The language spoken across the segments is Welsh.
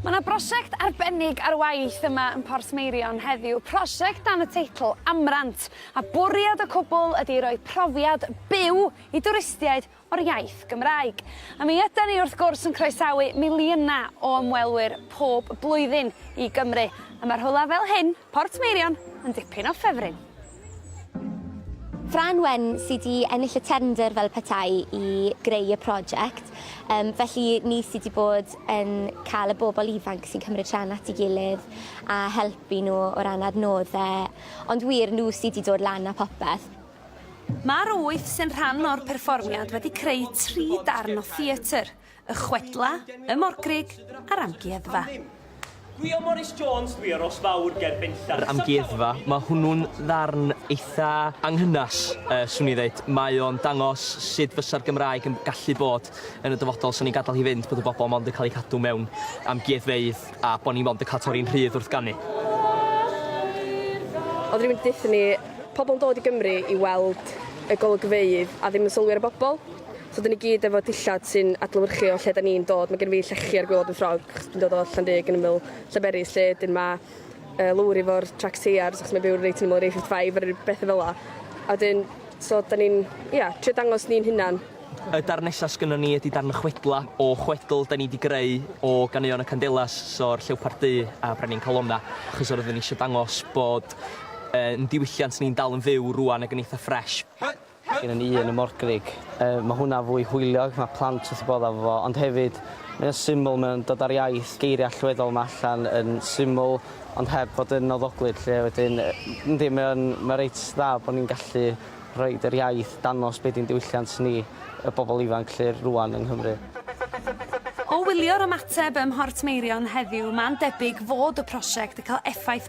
Mae yna brosiect arbennig ar waith yma yn Porth Meirion heddiw, prosiect dan y teitl Amrant, a bwriad y cwbl ydy roi profiad byw i dwristiaid o'r iaith Gymraeg. A mi ydan ni wrth gwrs yn croesawu miliynau o ymwelwyr pob blwyddyn i Gymru, a mae rhywle fel hyn, Porth Meirion, yn dipyn o ffefryn. Fran Wen sydd wedi ennill y tendr fel petai i greu y prosiect, um, felly ni sydd wedi bod yn cael y bobl ifanc sy'n cymryd rhan at ei gilydd a helpu nhw o ran adnoddau, ond wir nhw sydd wedi dod lan a popeth. Mae'r wyth sy'n rhan o'r perfformiad wedi creu tri darn o theatr. Y chwedla, y morgrug a'r amgueddfa. Gwyo Morris Jones dwi a Ros Fawr ger Benllan. Yr amgueddfa, mae hwnnw'n ddarn eitha anghynas, yy, swn i ddeud. Mae o'n dangos sut fysa'r Gymraeg yn gallu bod yn y dyfodol sa ni'n gadael hi fynd bod y bobl mond yn cael eu cadw mewn amgueddfeydd a bod ni mond yn cael torri'n rhydd wrth ganu. Oedden ni'n mynd i deutha ni, pobl yn dod i Gymru i weld y golygfeydd a ddim yn sylwi ar y bobl. So dyn ni gyd efo dillad sy'n adlewyrchu o lle da ni'n dod. Mae gen fi llechi ar gwylod yn ffrog achos dwi'n dod o Llanrug yn ymyl Llanberis lle dyn ma' uh, lowr i fo'r trac teiars achos mae byw reit yn ymyl yr A55 ar beth fel la. A dyn, so da ni'n, ia, yeah, trio dangos ni'n hunan. Y darn nesaf sgynnon ni ydy darn y chwedla o chwedl da ni wedi greu o ganeuon y Candelas, so'r Llewpart Du a Brenin Calonna, achos oeddwn ni eisiau dangos bod uh, yn diwylliant ni'n dal yn fyw rwan ac yn eitha ffresh. Mae gennym ni un ym Morgrug. Yy ma' hwnna fwy hwyliog, ma' plant wrth 'u bodd efo fo, ond hefyd mae o'n syml, mae o'n dod â'r iaith, geiriau allweddol 'ma allan yn syml ond heb fod yn nawddoglyd 'lly a wedyn yy yndi mae o'n mae reit dda bo' ni'n gallu rhoid yr iaith, dangos be' 'di'n diwylliant ni, y bobl ifanc 'lly rŵan yng Nghymru. O wylio'r ymateb ym Mhortmeirion heddiw, ma'n debyg fod y prosiect yn cael effaith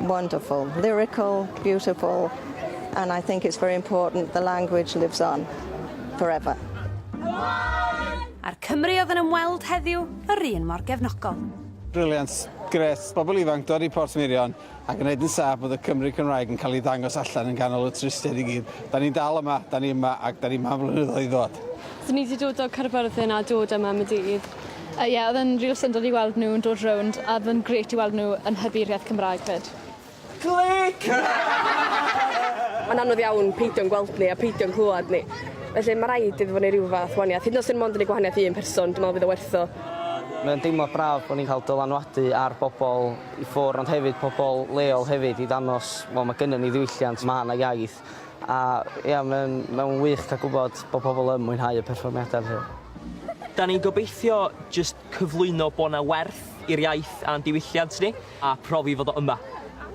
Wonderful, lyrical, beautiful and I think it's very important the language lives on forever. A'r Cymry oedd yn ymweld heddiw yr un mor gefnogol. Brilliant, gret, bobl ifanc dod i Port Mirion ac yn neud yn saff bod y Cymry Cymraeg yn cael ei ddangos allan yn ganol y tristedd i gyd. Da ni'n dal yma, da ni yma ac da ni yma am flynyddoedd i ddod. Da ni wedi dod o Caerfyrddin a dod yma am y dydd. Yy ie odd e'n ril syndod i weld nw yn dod rownd a odd yn grêt i weld nw yn hybu yr iaith Cymraeg 'fyd. Clic! Mae'n anodd iawn peidio'n gweld ni a peidio'n clywed ni. Felly ma' raid iddo fo neu' ryw fath waniath. Hyd yn o'd 'swn mond yn neu' gwahaniath i un person dwi me'wl fydd o werth o. Mae o'n deimlad braf bo' ni'n cael dylanwadu ar bobol i ffwr ond hefyd pobol leol hefyd i ddangos wel ma' gynnon ni ddiwylliant ma' 'na iaith. A ia mae'n mae'n wych cael gwybod bod pobl yn mwynhau y perfformiadau felly. Da ni'n gobeithio jyst cyflwyno bod 'na werth i'r iaith a'n diwylliant ni, a profi fod o yma.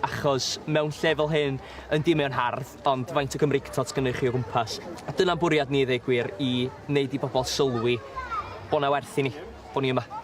Achos mewn lle fel hyn, yndi mae o'n hardd, ond faint o Gymreig t'od sgynnoch chi o gwmpas? A dyna'n bwriad ni i ddweud gwir, i wneud i bobl sylwi bod 'na werth i ni, bod ni yma.